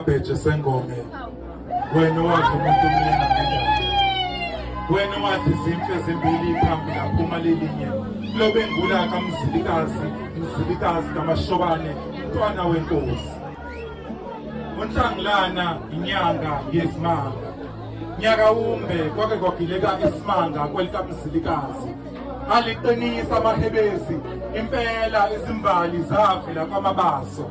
Bheje sengome wena wathi umuntu omnyama wena wathi izimfe ezimbili phambili aphuma lelinye lobe ngula kamzilikazi mzilikazi kamashobane mntwana wenkosi unhlangulana inyanga yezimanga nyaka wumbe kwake kwagileka isimanga kwelikamzilikazi aliqinisa amahebezi impela izimbali zavela kwamabaso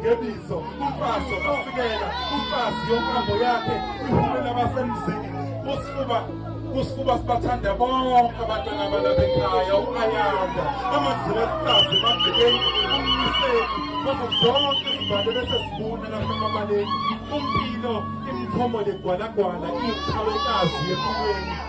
ngebizo umfazi wamasikela umfazi yonkambo yakhe ihumela abasemzini kusifuba kusifuba sibathanda bonke abantwana balapha ekhaya u-ayanda amadlula ehlazi emabhekeni umniseni bazo zonke izibhalo bese zibuna lapha emabaleni umpilo imikhomo legwalagwala iqhawekazi empilweni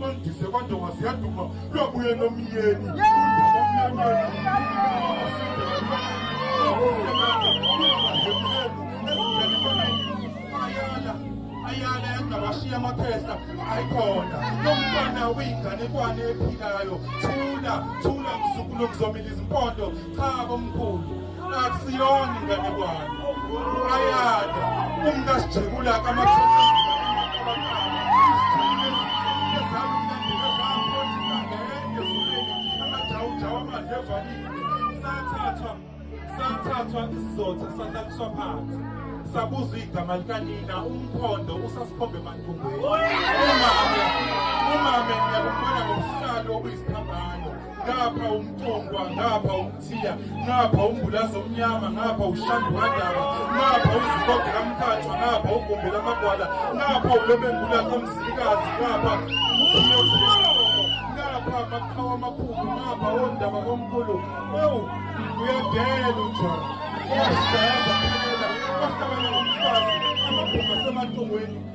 Mandise kodwa ngasiyaduma lwabuye nomyeni. Ayala engabashiya amaphehla ayikhona lomntwana uyinganekwane ephilayo thula thula mzukulu kuzomila izimpondo cha komkhulu akusiyona inganekwane ayanda umntasijekula kamathethe sathathwa isizotha sahlaliswa phansi sabuzwa igama likanina umkhondo usasikhombe emandumbeni umame umame ngiyakubona ngobuhlalo obuyisiphambano ngapha umtongwa ngapha umthiya ngapha umbulazi omnyama ngapha ushandu kadaba ngapha uziboge kamkhathwa ngapha ugumbi lamagwala ngapha ulobengula kamzilikazi ngapha ngapha amaqhawa amakhulu ngapha ondaba omkhulu ewu uyadela unjalo uyasidayaza phela bahlabana ngomfazi amabhunga asematongweni